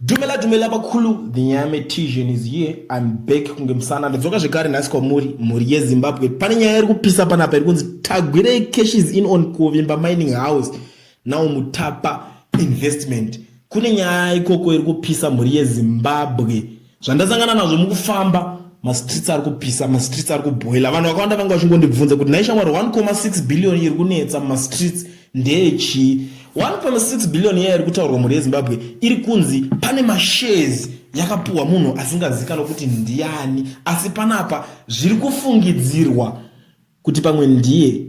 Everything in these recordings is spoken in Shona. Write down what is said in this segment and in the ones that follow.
Dumela dumela vakulu the nyame tision is here I'm back kunge musana ndadzoka zvekare nhasi kwamuri mhuri yezimbabwe pane nyaya iri kupisa panapa iri kunzi tagwirei cash is in on kuvimba mining house now mutapa investment kune nyaya ikoko iri kupisa mhuri yezimbabwe zvandasangana nazvo mukufamba mastreets ari kupisa mastreets ari kubhoila vanhu vakawanda vanga vachingondibvunza kuti nhaishamwari 1,6 billion iri kunetsa mumastreets ndechii 1.6 billion iya iri kutaurwa mhuri yezimbabwe iri kunzi pane mashares yakapuhwa munhu asingazikanwa kuti ndiani asi panapa zviri kufungidzirwa kuti pamwe ndiye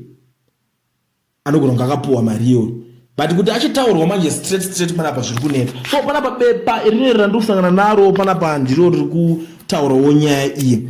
anogona kunge akapuhwa mari iyoyo but kuti achitaurwa manje straight straight panapa zviri kuneta so panapa bepa iri rinoerera ndiri kusangana naro panapa ndiro riri kutaurawo nyaya iyi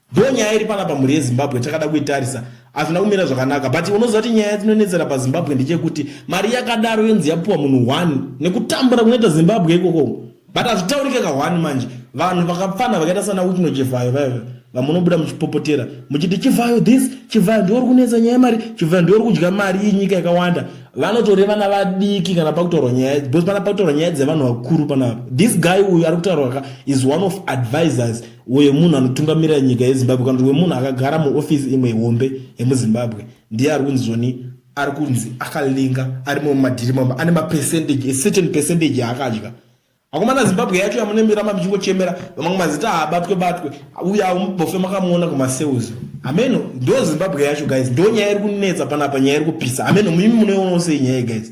Though nyaya iri panapa mhuri yeZimbabwe takada kuitarisa hazvina kumira zvakanaka but unoziva kuti nyaya dzinonetsera paZimbabwe ndechekuti mari yakadaro yonzi yapuwa munhu one nekutambura kunoita Zimbabwe ikoko but hazvitaurike ka one manje vanhu vakapfana vakaita sana Wikno Chivhayo vaive vamunobuda muchipopotera muchiti Chivhayo this Chivhayo ndiwe uri kunetsa nyaya yemari Chivhayo ndiwe uri kudya mari iyi nyika yakawanda vanotore vana vadiki kana pakutaurwa nyaya because pana pakutaurwa nyaya dzevanhu vakuru panapa this guy uyu ari kutaurwa ka is one of advisors uyo munhu anotungamirira nyika yezimbabwe kana kuti wemunhu akagara muofisi imwe hombe yemuzimbabwe ndiye ari kunzoni ari kunzi akalinga ari mumwe madhiri mama ane mapercentage ecertain percentage yaakadya akomana zimbabwe yacho yamunemirama muchingochemera mamwe mazita haabatwe batwe uye amubofe makamuona kumasales ameno ndo zimbabwe yacho guys ndo nyaya iri kunetsa panapa nyaya iri kupisa ameno mimi munoionawo sei nyaya guys